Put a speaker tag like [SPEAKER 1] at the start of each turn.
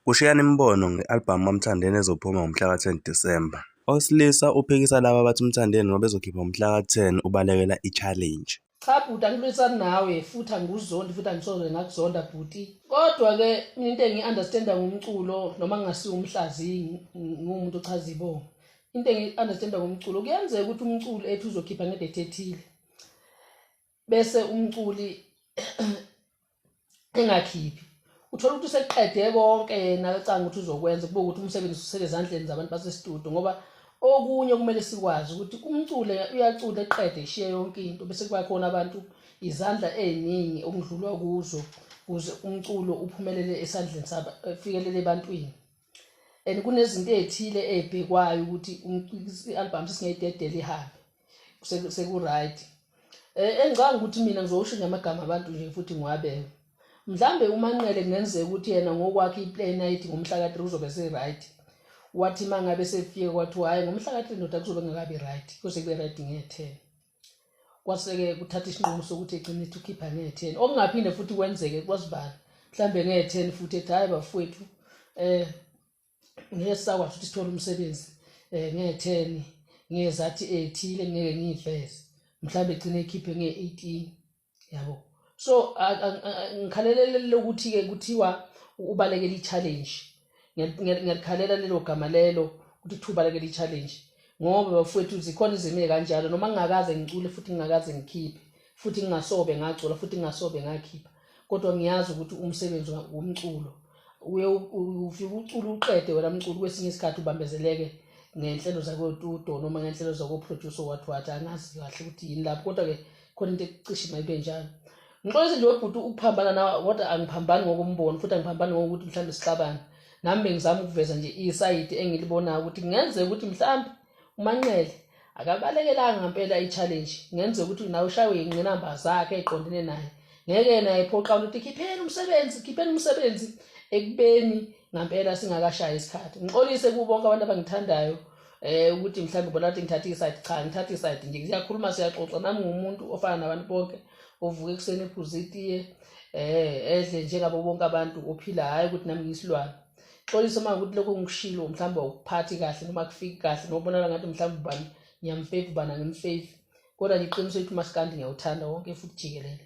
[SPEAKER 1] Kushiyana imibono nge-albhamu kaMthandeni ezophuma ngomhlaka 10 Disemba. Owesilisa uphikisa laba abathi uMthandeni ngoba ezokhipha ngomhlaka 10 ubalekela i-challenge. Cha bhuti angiphikisani
[SPEAKER 2] nawe futhi angikuzondi futhi angisoze ngakuzonda bhuti kodwa ke mina into engiyi understanda ngomculo noma ngingasiwo umhlaziyi ngiwumuntu ochaza ibongo into engiyi understanda ngomculo kuyenzeka ukuthi umculo ethi uzokhipha ngedate ethile bese umculi engakhiphi uthola ukuthi useqede konke yena acanga ukuthi uzokwenza kube ukuthi umsebenzi usele ezandleni zabantu basestudio ngoba okunye kumele sikwazi ukuthi umcule uyacula eqede ishiye yonke into bese kuba khona abantu izandla eziningi okudlulwa kuzo kuze umculo uphumelele esandleni sabo efikelele ebantwini and kunezinto ezithile ezibhekwayo ukuthi i-album sesingayidedela ihambe sekuright eh, engicanga ukuthi mina ngizowusho nje amagama abantu nje futhi ngiwabeke mhlambe umanqele kungenzeka ukuthi yena ngokwakhe iplay night ngomhla ka-3 uzobe se-right wathi uma ngabe sefike kwathiwa hhayi ngomhla ka-3 ndoda kuzobe ngakabi right kuze kube right nge-10 kwase-ke kuthatha isinqumo sokuthi egcine ethi ukhipha ngetheni okungaphinde futhi kwenzeke kwasibani mhlawumbe ngetheni futhi ethi hhayi bafowethu um eh, ngeke sisakwazi ukuthi sithole umsebenzi um eh, ngetheni ngezathi ethile ngeke ngiyiveze mhlawumbe egcine ekhiphe nge-eighteen yabo so ngikhalelelele ukuthi-ke kuthiwa ubalekela i-challenge ngiyalikhalela lelo gama lelo ukuthi kuthiwa ubalekela i-challenge ngoba bafowethu zikhona izimile kanjalo noma ngingakaze ngicule futhi ngingakaze ngikhiphe futhi ngingasobe ngacula futhi ngingasobe ngakhipha kodwa ngiyazi ukuthi umsebenzi womculo uye ufike ucule uqede wena mculi kwesinye isikhathi ubambezeleke ngenhlelo zakotudo noma ngenhlelo zakoproducer wathi wathi angazi kahle ukuthi yini lapho kodwa-ke khona into ekucishe mayibe njalo ngixolise nje webhuti ukuphambana nawe kodwa angiphambani ngokombono futhi angiphambani ngokuthi mhlawumbe sixabane nami bengizama ukuveza nje isayidi engilibonayo ukuthi kungenzeka ukuthi mhlawumbe umanqele akabalekelanga ngempela i-challenge ngenze ukuthi nawe ushaywe yingqinamba zakhe eqondene naye ngeke yena ephoqa ukuthi khipheni umsebenzi khipheni umsebenzi ekubeni ngampela singakashayi isikhathi ngixolise kubo bonke abantu abangithandayo eh ukuthi mhlawumbe ubona ukuthi ngithatha isayidi cha ngithatha isayidi nje siyakhuluma siyaxoxa nami ngumuntu ofana nabantu bonke ovuka ekuseni ephuza itiye eh edle njengabo bonke abantu ophila hhayi ukuthi nami ngiyisilwane xolisa uma ukuthi lokho ngikushilo mhlawumbe awukuphathi kahle noma kufiki kahle nobonala ngathi mhlawumbe ubani ngiyamfevi ubani angimfevi kodwa ngiqinisele ukuthi umasikandi ngiyawuthanda wonke futhi jikelele